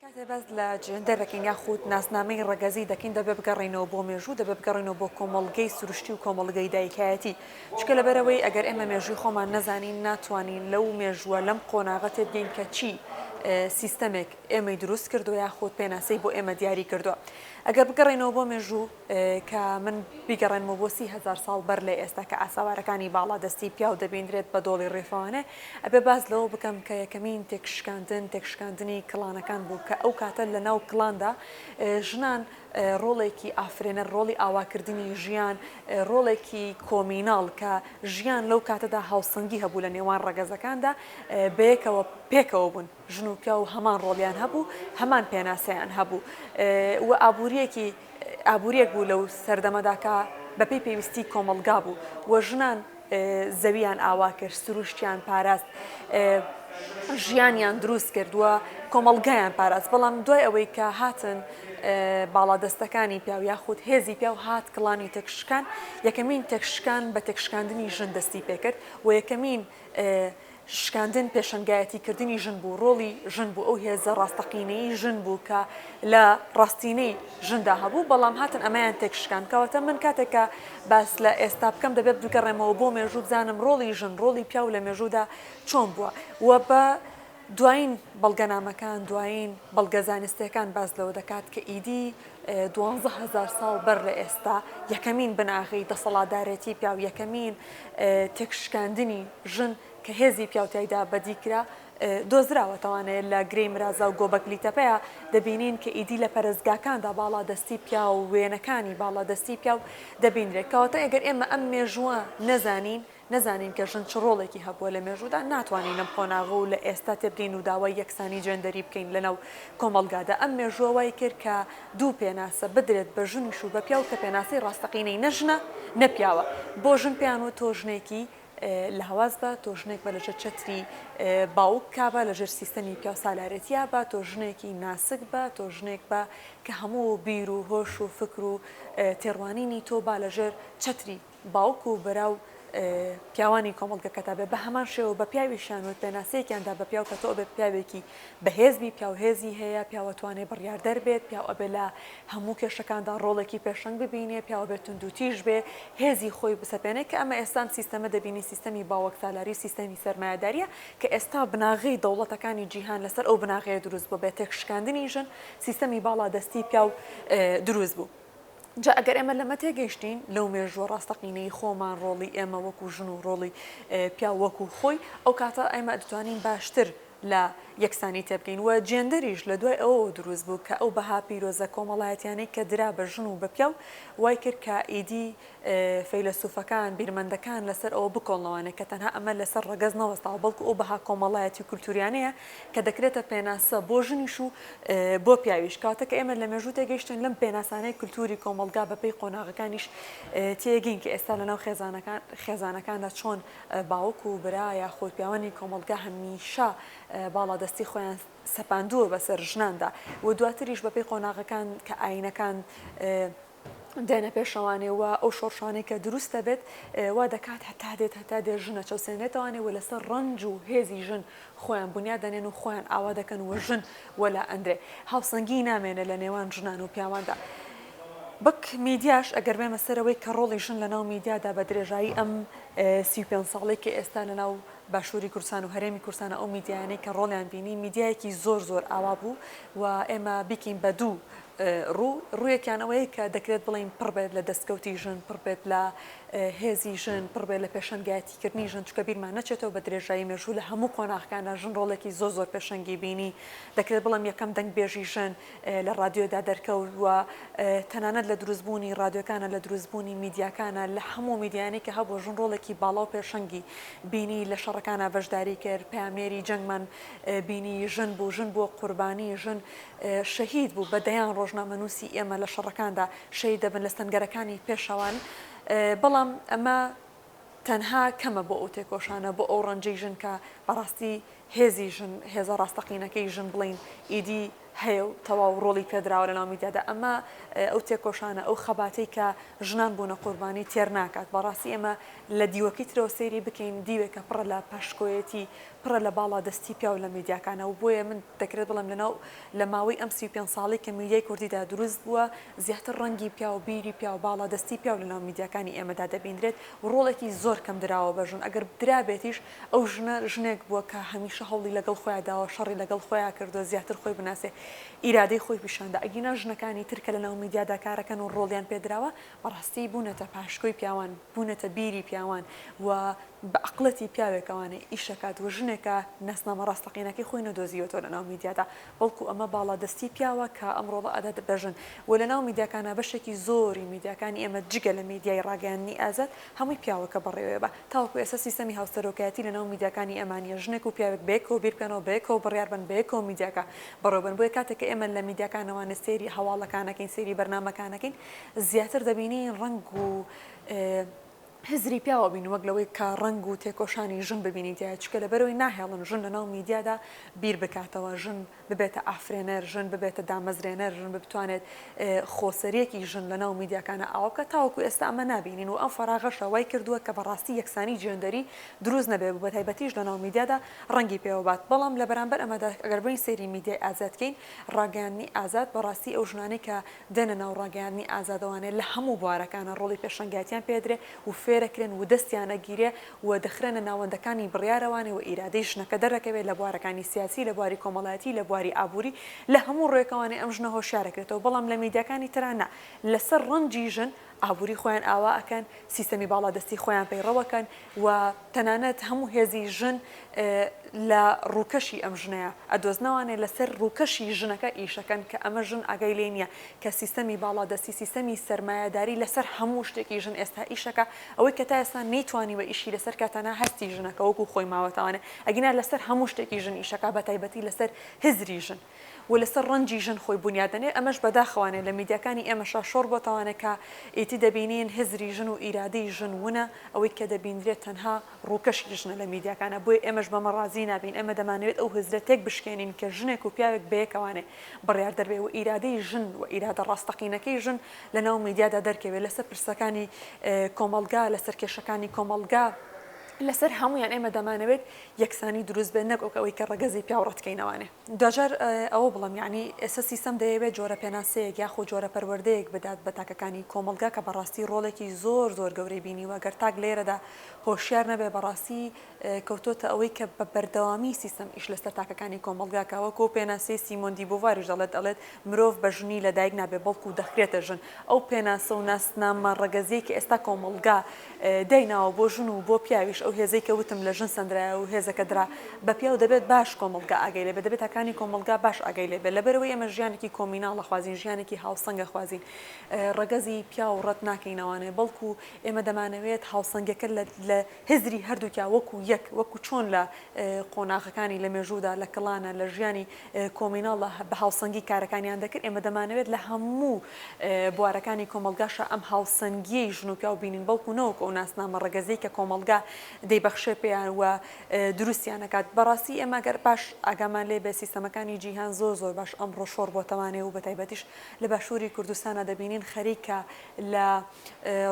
کاتێ باس لە جێندەر دەکەین یاخود ناسنامەی ڕەگەزی دەکەین دەبێ بگەڕێینەوە بۆ مێژوو دەبێ بگەڕێینەوە بۆ کۆمەڵگەی سروشتی و کۆمەڵگەی دایکایەتی چونکە لەبەرئەوەی ئەگەر ئێمە مێژووی خۆمان نەزانین ناتوانین لەو مێژووە لەم قۆناغە تێبگەین کە چی سیستەمێک ئێمەی دروست کردوە یاخود پێناسەی بۆ ئێمە دیاری کردوە ئەگەر بگەڕێینەوە بۆ مێژوو کە من بیگەڕێنمەوە بۆ سی هەزار ساڵ بەر لە ئێستا کە ئاساوارەکانی باڵا دەستی پیاو دەبیندرێت بە دۆڵی ڕیفانێ، ئەبێ باس لەوە بکەم کە یەکەمین تێکشکاندن تێکشکاندنی کڵانەکان بوو کە ئەو کاتە لە ناو کڵاندا ژنان ڕۆڵێکی ئافرێنەر ڕۆڵی ئاواکردنی ژیان ڕۆڵێکی کۆمیناڵ کە ژیان لەو کاتەدا هاوسەنگی هەبوو لە نێوان ڕەگەزەکاندا بەیەکەوە پێکەوە بوون. ژن و پیاو هەمان ڕۆڵیان هەبوو، هەمان پێناسەیان هەبوو و ئابوورییەکی ئابوورییەک بوو لەو سەردەمەدا کە بەپێی پێویستیی کۆمەڵگا بوو و ژنان زەوییان ئاوا کرد، سرووشتیان پاراست، ژیانیان دروست کرد و کۆمەڵگایان پاراست. بەڵام دوای ئەوەی کە هاتن باڵادەستەکانی پیاو یاخود هێزی پیاو هات کڵانی تێکشکان، یەکەمین تێکشکان بە تێکشکاندنی ژن دەستی پێ کرد و یەکەمین شکاندن پێشەنگایەتی کردنی ژن بوو، ڕۆڵی ژن بوو، ئەو هێزە ڕاستەقینەی ژن بوو کە لە ڕاستینەی ژندا هەبوو، بەڵام هاتن ئەمەیان تێکشکاند. کەواتە من کاتێک کە باس لە ئێستا بکەم دەبێ بگەڕێمەوە بۆ مێژوو بزانم ڕۆڵی ژن، ڕۆڵی پیاو لە مێژوودا چۆن بووە و بە دوایین بەڵگەنامەکان، دوایین بەڵگە زانستییەکان باس لەوە دەکات کە ئیدی دوانزە هەزار ساڵ بەر لە ئێستا یەکەمین بناغەی دەسەڵاتدارێتی پیاو، یەکەمین تێکشکاندنی ژن کە هێزی پیاو تیایدا بەدی کرا دۆزراوەتەوانێ لە گرێی مرازا و گۆبەکلی تەپەیە دەبینین کە ئیدی لە پەرستگاکاندا باڵادەستی پیاو و وێنەکانی باڵادەستی پیاو دەبینرێت کەواتە ئەگەر ئێمە ئەم مێژووە نەزانین نەزانین کە ژن چ ڕۆڵێکی هەبووە لە مێژوودا، ناتوانین لەم قۆناغە و لە ئێستا تێبگەین و داوای یەکسانی جێندەری بکەین لەناو کۆمەڵگادا. ئەم مێژووە وای کرد کە دوو پێناسە بدرێت بە ژنیش و بە پیاو کە پێناسەی ڕاستەقینەی نە ژنە نە پیاوە. بۆ ژن پێیان وت تۆ ژنێکی لاواز بە، تۆ ژنێک بە لەژێر چەتری باوک کابە، لەژێر سیستەمی پیاوسالارێتیا بە، تۆ ژنێکی ناسک بە، تۆ ژنێک بە کە هەموو بیر و هۆش و فکر و تێڕوانینی تۆ با لەژێر چەتری. باوک و برا و پیاوانی کۆمەڵگەکەتا بێ، بەهەمان شێوە بە پیاویشیان وت، پێناسەیەکیان دا بە پیاو کە تۆ ئەبێ پیاوێکی بەهێز بی، پیاو هێزی هەیە، پیاو ئەتوانێ بڕیاردەر بێت، پیاو ئەبێ لە هەموو کێشەکاندا ڕۆڵێکی پێشەنگ ببینێ، پیاو ئەبێ توندوتیژ بێ، هێزی خۆی بسەپێنێ، کە ئەمە ئێستا ئەم سیستەمە دەبینین سیستەمی باوەکسالاری و سیستەمی سەرمایەدارییە، کە ئێستا بناغەی دەوڵەتەکانی جیهان لەسەر ئەو بناغەیە دروست بووە، بە تێکشکاندنی ژن سیستەمی باڵادەستی پیاو دروست بوو. جا ئەگەر ئێمە لەمە تێگەیشتین لەو مێژووە ڕاستەقینەی خۆمان ڕۆڵی ئێمە وەکو ژن و ڕۆڵی پیاو وەکو خۆی ئەو کاتە ئێمە دەتوانین باشتر لە یەکسانی تێبگەین و جێندەریش لە دوای ئەوەوە دروست بوو کە ئەو بەها پیرۆزە کۆمەڵایەتیانەی کە درا بە ژن و بە پیاو وای کرد کە ئیدی فەیلەسوفەکان، بیرمەندەکان لەسەر ئەوە بکۆڵنەوانێ کە تەنها ئەمە لەسەر ڕەگەز نەوەستاوە، بەڵکو ئەو بەها کۆمەڵایەتی و کولتووریانەیە کە دەکرێتە پێناسە بۆ ژنیش و بۆ پیاویش، کاتێک کە ئێمە لە مێژوو تێگەیشتین لەم پێناسانەی کولتووری کۆمەڵگا بە پێی قۆناغەکانیش تێگەین کە ئێستا لەناو خێزانەکان خێزانەکاندا چۆن باوک و برا یاخود پیاوانی کۆمەڵگا هەمیشە باڵادەستی خۆیان سەپاندووە بەسەر ژناندا و دواتریش بە پێی قۆناغەکان کە ئایینەکان دێنە پێشەوانێ و ئەو شۆڕشانەی کە دروست دەبێت وا دەکات هەتا دێت هەتا دێت ژن نەچەوسێنرێتەوانێ و لەسەر ڕەنج و هێزی ژن خۆیان بنیاد دەنێن و خۆیان ئاوا دەکەن و ژن وەلا ئەندرێ هاوسەنگی نامێنێ لە نێوان ژنان و پیاواندا بەک میدیاش ئەگەر بێمە سەرەوەی کە ڕۆڵی ژن لە ناو میدیادا بە درێژایی ئەم سی پێ ساڵی کە ئێستا لە ناو باشووری کوردستان و هەرێمی کوردستانە ئەو میدیانەی کە ڕۆڵیان بینی میدیایەکی زۆر زۆر ئاوا بوو و ئێمە بیکەین بە دوو ڕوو، ڕوویەکیان ئەوەیە کە دەکرێت بڵێین پڕ بێت لە دەستکەوتی ژن، پڕ بێت لە هێزی ژن، پڕ بێت لە پێشەنگایەتیکردنی ژن، چونکە بیرمان نەچێتەوە بە درێژایی مێژوو لە هەموو قۆناغەکاندا ژن ڕۆڵێکی زۆر زۆر پێشەنگی بینی، دەکرێت بڵێم یەکەم دەنگبێژی ژن لە ڕادیۆدا دەرکەوت و تەنانەت لە دروستبوونی ڕادیۆکانە، لە دروستبوونی میدیاکانە، لە هەموو میدیایانەی کە هەبوو ژن ڕۆڵێکی باڵا و پێشەنگی بینی، لە شەڕەکانا بەشداری کرد، پەیامنێری جەنگمان بینی ژن بوو، ژن بووە قوربانی، ژن شەهید بوو بە دەیان ڕۆژنامەنووسی ئێمە لە شەڕەکاندا شەهید دەبن لە سەنگەرەکانی پێشەوان بەڵام ئەمە تەنها کەمە بۆ ئەو تێکۆشانە بۆ ئەو ڕەنجەی ژن کە بەڕاستی هێزی ژن هێزە ڕاستەقینەکەی ژن بڵین ئیدی هەیە و تەواو ڕۆڵی پێدراوە لە ناومیدیادا ئەمە ئەو تێکۆشانە ئەو خەباتی کە ژنان بوونە قوربانی تێر ناکات بەڕاستی ئێمە لە دیوەکی ترەوە سەیری بکەین دیوێکە پڕە لە پاشکۆیەتی پڕە لە باڵا دەستی پیاو لە میدیاکانا و بۆیە من دەکرێت بڵێم لە ناو لە ماوەی ئەم سی و پێنج ساڵەی کە میدیای کوردیدا دروست بووە زیاتر ڕەنگی پیاو بیری پیاو باڵا دەستی پیاو لە ناو میدیاکانی ئێمەدا دەبیندرێت و ڕۆڵێکی زۆر کەم دراوە بە ژن ئەگەر درابێتیش ئەو ژنە ژنێک بووە کە هەمیشە هەوڵی لە گەڵ خۆیا داوە شەڕی لە گەڵ خۆیا کردووە زیاتر خۆی بناسێ ئیرادەی خۆی پیشاندا ئەگینا ژنەکانی تر کە لە ناو میدیادا کارەکەن و ڕۆڵیان پێدراوە بەڕاستی بوونەتە پاشکۆی پیاوان بوونەتە بیری پیاوان و بە ئەقڵێتی پیاوێک ئەوانەی ئیشەکات و ژنێکە ناسنامە ڕاستەقینەکەی خۆی نەدۆزیوەتەوە لەناو میدیادا بەڵکو ئەمە باڵا دەستی پیاوە کە ئەمڕۆ ڕائەدات بە ژن و لەناو میدیاکانا بەشێکی زۆری میدیاکانی ئێمە جگە لە میدیای ڕاگەیاندنی ئازاد هەمووی پیاوە کە بەڕێوەیە بە تاوەکو ئێستا سیستەمی هاوسەرۆکایەتی لەناو میدیاکانی ئێمە نیە ژنێک و پیاوێک بەیەکەوە بیربکەنەوە بەیەکەوە بڕیاربەن بەیەکەوە میدیاکە بەڕێوەبەن بۆیە کاتێک کە ئێمە لە میدیاکانەوە سەیری هەواڵەکانەکەین سەیری بەرنامەکانەکەین زیاتر دەبینین ڕەنگ و هزری پیاو ئەبین وەک لەوەی کە ڕەنگ و تێکۆشانی ژن ببینین تیا چکە لە بەرەوەی ناهێڵن ژن لەناو میدیادا بیر بکاتەوە ژن ببێتە ئافرێنەر ژن ببێتە دامەزرێنەر ژن بتوانێت خۆسەریەکی ژن لەناو میدیاکانە ئاوا بکە تاوەکو ئێستا ئەمە نبینین و ئەم فەراغەشە وای کردووە کە بەڕاستی یەکسانی جێندەری دروست نەبێ بە تایبەتیش لەناو میدیادا ڕەنگی پێوەبات بەڵام لە بەرامبەر ئەمەدا ئەگەر بین سەیری میدیای ئازادکەین ڕاگەیاندنی ئازاد بەڕاستی ئەو ژنانەی کە دێنە ناو ڕاگەیاندنی ئازادەوانێ لە هەموو بوارەکانا ڕۆڵی پێشەنگایەتیان پێدرێ و فێرەکرێن و دەستیان ئەگیرێ و دەخرێنە ناوەندەکانی بڕیارەوانی و ئیرادەی ژنەکە دەردەکەوێ لە بوارەکانی سیاسی لە بواری کۆمەڵایەتی لە بواری ئابووری لە هەموو ڕوێکەوانێ ئەم ژنە هۆشیارەکرێتەوە بەڵام لە میدیاکانی ترا نا لەسەر ڕەنجی ژن ئابوری خۆیان ئاوا ئەکەن، سیستەمی باڵادەستی خۆیان پەیڕەوەکەن و تەنانەت هەموو هێزی ژن لە ڕووکەشی ئەم ژنەیە ئەدۆزنەوانێ لەسەر ڕووکەشی ژنەکە ئیشەکەن کە ئەمە ژن ئاگای لێی نیە کە سیستەمی باڵادەستی سیستەمی سەرمایەداری لەسەر هەموو شتێکی ژن ئێستا ئیشەکە ئەوەی کە تا ئێستا نەیتوانیوە ئیشی لەسەر کە تەنها هەستی ژنەکە وەکو خۆی ماوەتەوانێ ئەگینا لەسەر هەموو شتێکی ژن ئیشەکە بەتایبەتی لەسەر هزری ژن. و لەسەر ڕەنجی ژن خۆی بونیاد دەنێ، ئەمەش بەداخەوانێ لە میدیاکانی ئێمەشا شۆڕ بۆتەوانێ کە ئیتی دەبینین هزری ژن و ئیرادەی ژن ونە، ئەوەی کە دەبینرێ تەنها ڕووکەشی ژنە لە میدیاکانا، بۆیە ئێمەش بەمە ڕازی نابین، ئێمە دەمانەوێت ئەو هزرە تێک بشکێنین کە ژنێک و پیاوێک بەیەکەوانێ بڕیاردەر بێ و ئیرادەی ژن و ئیرادە ڕاستەقینەکەی ژن لە ناو میدیادا دەرکەوێ لەسەر پرسەکانی کۆمەڵگا، لەسەر کێشەکانی کۆمەڵگا، لەسەر هەموویان ئێمە دەمانەوێت یەکسانی دروست بێ نەک وەک ئەوەی کە ڕەگەزی پیاو ڕەتکەینەوانێ. دواجار ئەوە بڵێم یەعنی ئێستا سیستەم دەیەوێت جۆرە پێناسەیەک یاخۆ جۆرە پەروەردەیەک بدات بە تاکەکانی کۆمەڵگا کە بەڕاستی ڕۆڵێکی زۆر زۆر گەورەی بینیوە گەر تاک لێرەدا هۆشیار نەبێت بەڕاستی کەوتۆتە ئەوەی کە بە بەردەوامی سیستەم ئیش لەسەر تاکەکانی کۆمەڵگاکە وەکۆ پێناسەی سیمۆندی بۆڤاریش دەڵێت دەڵێت مرۆڤ بە ژنی لە دایک نابێت بەڵکو دەخرێتە ژن. ئەو پێناسە و ناسنامە ڕەگەزیەی کە ئێستا کۆمەڵگا دایناوە بۆ ژن و بۆ پیاویش ئەو هێزەی کە وتم لە ژن سەندرایە و هێزەکە درا بە پیاو دەبێت باش کۆمەڵگا ئاگای لێبێت دەبێت تاکانی کۆمەڵگا باش ئاگای لێبێت لەبەرئەوەی ئێمە ژیانێکی کۆمیناڵ ئەخوازین ژیانێکی هاوسەنگ ئەخوازین ڕەگەزی پیاو ڕەت ناکەین ئەوانەیە بەڵکو ئێمە دەمانەوێت هاوسەنگەکە لە هزری هەردووکیا وەکو یەک وەکو چۆن لە قۆناغەکانی لە مێژوودا لە کڵانە لە ژیانی کۆمیناڵ بە هاوسەنگی کارەکانیان دەکرد، ئێمە دەمانەوێت لە هەموو بوارەکانی کۆمەڵگاشا ئەم هاوسەنگییەی ژن و پیاو بینین، بەڵکو نەوەکو ئەو ناسنامە ڕەگەزیەی کە کۆمەڵگا دەیبەخشێ پێیان و دروستیان ئەکات، بەڕاستی ئێمە گەر باش ئاگامان لێ بێت سیستەمەکانی جیهان زۆر زۆر باش ئەمڕۆ شۆڕ بۆتەوانێ و بەتایبەتیش لە باشووری کوردستانا دەبینین خەریکە لە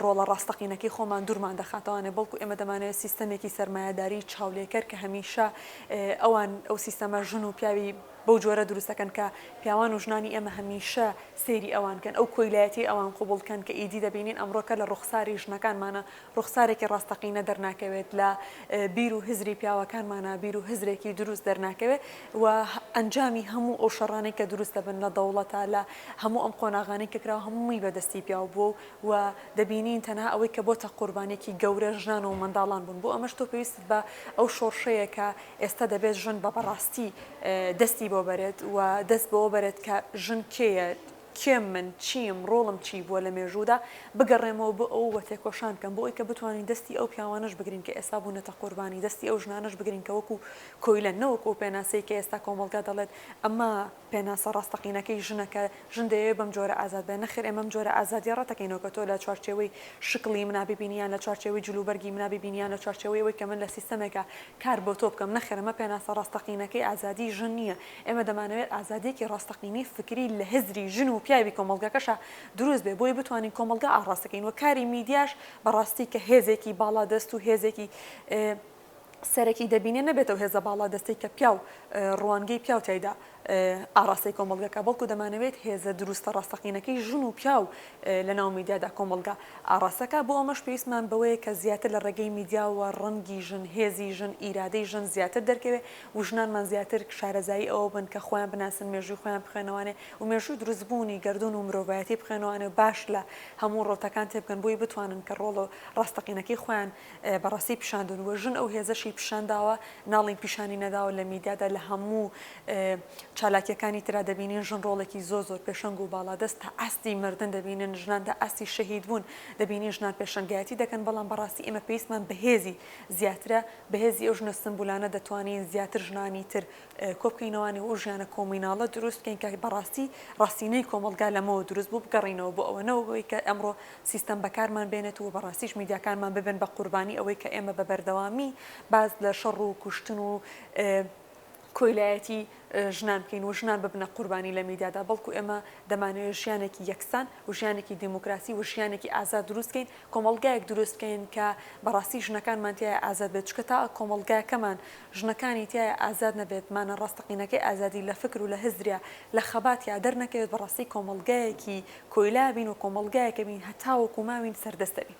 ڕۆڵە ڕاستەقینەکەی خۆمان دوورمان دەخاتەوانێ، بەڵکو ئێمە دەمانەوێت سیستەمێکی سەرمایەداریی چاولێکەر کە هەمیشە ئەوان ئەو سیستەمە ژن و پیاوی بەو جۆرە دروست دەکەن کە پیاوان و ژنانی ئێمە هەمیشە سەیری ئەوان کەن، ئەو کۆیلایەتیەی ئەوان قبوڵ کەن کە ئیدی دەبینین ئەمڕۆکە لە ڕوخساری ژنەکانمانا ڕوخسارێکی ڕاستەقینە دەرناکەوێت، لە بیر و هزری پیاوەکانمانا بیر و هزرێکی دروست دەرناکەوێت، و ئەنجامی هەموو ئەو شەڕانەی کە دروست دەبن لە دەوڵەتە لە هەموو ئەم قۆناغانەی کە کراوە هەمووی بە دەستی پیاو بووە و و دەبینین تەنها ئەوەی کە بۆتە قوربانیەکی گەورە ژنان و منداڵان بوون بۆ ئەمەش تۆ پێویستت بە ئەو شۆڕشەیە کە ئێستا دەبێت ژن بە بەڕاستی دەستی بۆ بەرێت و دەست بەوە بەرێت کە ژن کێیە کێم من؟ چیم؟ ڕۆڵم چی بووە لە مێژوودا؟ بگەڕێمەوە بۆ ئەوە و تێکۆشان بکەم بۆ ئەوەی کە بتوانین دەستی ئەو پیاوانەش بگرین کە ئێستا بوونەتە قوربانی، دەستی ئەو ژنانەش بگرین کە وەکو کۆیلەن، نە وەکو ئەو پێناسەی کە ئێستا کۆمەڵگا دەڵێت ئەمە پێناسە ڕاستەقینەکەی ژنە کە ژن دەیەوێت بەم جۆرە ئازاد بێت، نەخێر ئێمە ئەم جۆرە ئازادییە ڕەت دەکەینەوە کە تۆ لە چوارچێوەی شکڵی منا بیبینی یان لە چوارچێوەی جلوبەرگی منا بیبینی یان لە چوارچێوەی ئەوەی کە من لە سیستەمێکا کار بۆ تۆ بکەم، نەخێر ئەمە پێناسە ڕاستەقینەکەی ئازادیی ژن نییە، ئێمە دەمانەوێت ئازادییەکی ڕاستەقینەی فکری لە هزری ژن و پیاوی کۆمەڵگەکەشا دروست بێت بۆی بتوانین کۆمەڵگا ئاڕاست بکەین و کاری میدیاش بە ڕاستی کە هێزێکی باڵادەست و هێزێکی سەرەکی دەبینێت نەبێت ئەو هێزە باڵادەستەی کە پیاو ڕوانگەی پیاو تیایدا ئاڕاستەی کۆمەڵگەکە بەڵکو دەمانەوێت هێزە دروستە ڕاستەقینەکەی ژن و پیاو لە ناو میدیادا کۆمەڵگا ئاڕاستەکە بۆ ئەمەش پێویستمان بەوەیە کە زیاتر لە ڕێگەی میدیاوە ڕەنگی ژن هێزی ژن ئیرادەی ژن زیاتر دەرکەوێت و ژنانمان زیاتر شارەزایی ئەوە بن کە خۆیان بناسن مێژووی خۆیان بخوێنەوانێ و مێژووی دروست بوونی گەردوون و مرۆڤایەتی بخوێنەوانێ و باش لە هەموو ڕەوتەکان تێبگەن بۆی بتوانن کە ڕۆڵە ڕاستەقینەکەی خۆیان بە ڕاستی پیشاندون و ژن ئەو هێزەشی پیشانداوە ناڵین پیشانی نەداوە لە میدیادا لە هەموو چالاکیەکانی ترا دەبینین ژن ڕۆڵێکی زۆر زۆر پێشەنگ و باڵادەست تا ئاستی مردن دەبینن ژنان تا ئاستی شەهید بوون دەبینین ژنان پێشەنگایەتی دەکەن بەڵام بە ڕاستی ئێمە پێویستمان بە هێزی زیاترە بەهێزی ئەو ژنە سمبولانە دەتوانین زیاتر ژنانی تر کۆبکەینەوانێ و ژیانە کۆمیناڵە دروست بکەین کە بەڕاستی ڕاستینەی کۆمەڵگا لەمەوە دروست بوو بگەڕینەوە بۆ ئەوە نەوەک ئەوەی کە ئەمڕۆ سیستەم بەکارمان بێنێت و بەڕاستیش میدیاکانمان ببن بە قوربانی ئەوەی کە ئێمە بە بەردەوامی باس لە شەڕ و کوشتن و کۆیلایەتی ژنان بکەین و ژنان ببنە قوربانی لە میدیادا، بەڵکو ئێمە دەمانەوێت ژیانێکی یەکسان و ژیانێکی دیموکراسی و ژیانێکی ئازاد دروست بکەین، کۆمەڵگایەک دروست بکەین کە بەڕاستی ژنەکانمان تیایا ئازاد بێت، چونکە تا کۆمەڵگاکەمان ژنەکانی تیایا ئازاد نەبێت، مانە ڕاستەقینەکەی ئازادی لە فکر و لە هزریا، لە خەباتیا دەرنەکەوێت، بەڕاستی کۆمەڵگایەکی کۆیلا بین و کۆمەڵگایەک ئەبین هەتاوەکو ماوین سەردەست ئەبین.